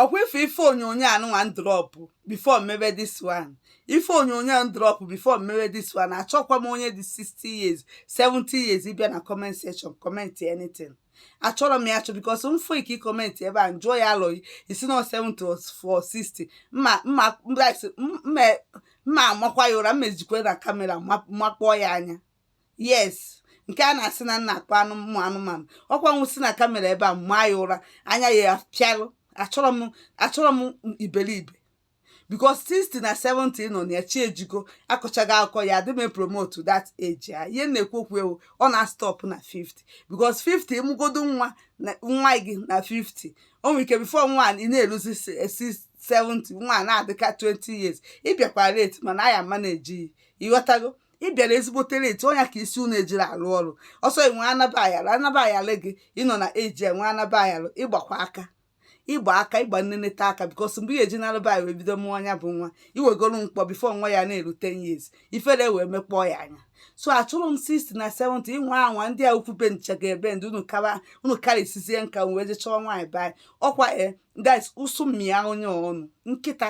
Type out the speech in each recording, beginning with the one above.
ọkwa ife ife onyonyo anụnwa m drop before m mebe this one ife onyonyo m drop before m mebe this one achọkwa m onye dị 60 years 70 years ịbịa na comment section comment anything achọrọ m ya achọ because m fụ ike comment ebe a m jụọ ya alọ gị ị sị na 70 or 60 mma amakwa ya ụra m esikwa na kamera makpọọ ya anya yes nke a na-asị na m na-akpa amụ anụmanụ ọkwa m esi na kamera ebe a maa ya ụra anya ya apịalụ achọrọ m achọrọ m iberibe because 60 na 70 nọ na ya chi ejigo akọchaghị akụkọ ya adị m promote that age a ihe m na-ekwu okwu ya ọ na-stop na 50 because 50 ị mụgodo nwa na nwa gị na 50 o nwere ike before nwa ị na-eruzi 70 nwa na-adịka 20 years ị bịakwa late mana a ya-amanage ya ịghọtago ị bịara ezigbote late ọ nya ka isi unu ejiri alụ ọrụ ọsọ enwe anaba ayalụ anaba ayalụ gị ị nọ na age enwe anaba ayalụ ịgbakwa aka ịgba aka ịgba nneneta aka because mgbe ihe eji nalụba anyị wee bido mụọ nya bụ nwa i wegolu mkpọ before nwa ya na-eru 10 years ifere wee mekpọọ ya anya so achọrọ m 60 na 70 ị nwa anwa ndị a ukwu be ncha ga-ebe ndị unu kara unu karịsizie nka m wee je chọọ nwaanyị be anyị ọkwa e guys ụsụ mmịa onye ọnụ nkịta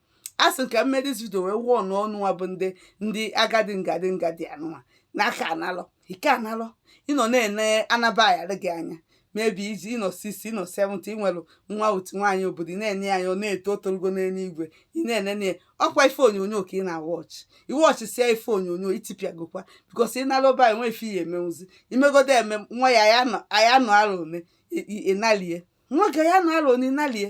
a sị ka m mee this video wee warn unuwa bụ ndị ndị agadi ngadi ngadi anụnwa n'aka analọ ike analọ ị nọ na-ene anaba aghara gị anya maybe age ị nọ 60 ị nọ 70 ị nwelụ nwa otu nwaanyị obodo ị na-ene ya anya ọ na-eto otologo n'eluigwe ị na-enene ya ọkwa ife onyonyo ka ị na-awatch ị watchsịa ife onyonyo i tipịagokwa because ị nara ụba enwe ife ị ya-emenwuzi i megodo eme nwa ya aya nọ aya nọ alọ one ị- ị- ị nalie nwoke ya-anọ alọ one ị nalie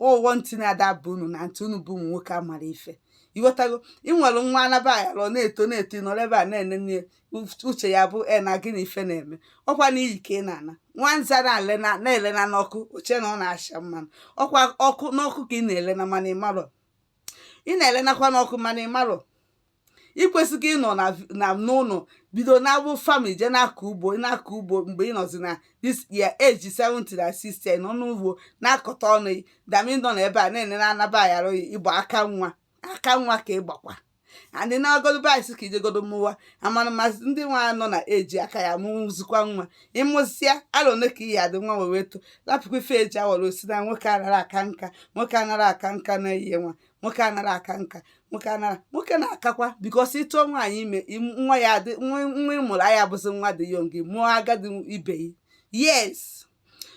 ụghọ ntị na-adaba unu na ntị unu bụ ụmụ nwoke amara ife ịghọtago ị nwere nwa anaba aghara ọ na-eto na-eto ị nọrọ ebe a na-enene ya, uf- uche ya bụ e na gị na ife na-eme ọkwa n'iyi ka ị na-ana nwa nza na-elena na-elena n'ọkụ o che na ọ na-asha mmanụ ọkwa ọkụ n'ọkụ ka ị na-elena mana ị marọ ị na-elenakwa n'ọkụ mana ị marọ ị kwesịghị ịnọ na vi- na n'ụlọ bido na-abụ family je na-akọ ugbo ị na-akọ ugbo mgbe ị nọzi na this your age 70 na 60 ị nọ n'ugbo na-akọta ọnụ gị dami nọ na ebe a na-ene na anaba aghara gị ịgba aka nwa aka nwa ka ị gbakwa and ị na-agodo baịsị ka i jegodo mụwa amana masị ndị nwa nọ na age a ka ya-amụzikwa nwa ị mụsịa alọ ole ka ị ya-adị nwa wee wee to lapụkwa ife eji awara osi na nwoke anarọ aka nka nwoke anarọ aka nka na-eyi nwa nwoke anarọ aka nka nwoke anarọ nwoke na-akakwa because ị tụọ nwaanyị ime nwa ya adị nwa ị mụrụ ya-abụzi nwa dị young ị mụọ agadi ibe ya yes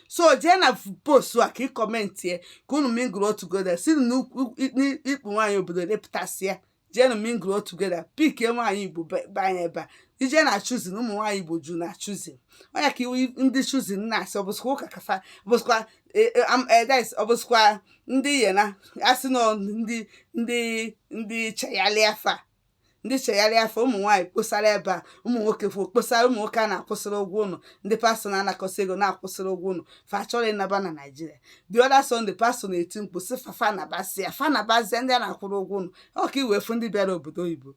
so jee na post a ka ị comment ya ka unu mingle together si n'ikpu nwaanyị obodo lepụtasịa jeenụ mingle together pickie nwaanyị igbo banye ebe a i je na choosing ụmụ nwaanyị igbo ju na choosing onye ka iwu ndị choosing na-asị ọbụsịkwa ụka kafa ọbụsịkwa edes e, e, ọ bụzikwa ndị ye na-asị na ọ ndị ndị ndị chegharị afa ndị chegharị afọ ụmụ nwaanyị kposara ebe a ụmụ nwoke fo kposara ụmụ nwoke a na-akwụsịrị ụgwọ ụnọ ndị pastọ na-anakọsị ego na-akwụsịrị ụgwọ ụnọ fa chọrọ ịnaba na naịjirịa the other Sunday pastọ na-eti mkpu sị fa fa nabasịa fa na ndị a na-akwụrụ ụgwọ ụnọ ọ ka i wee fụ ndị bịara obodo oyibo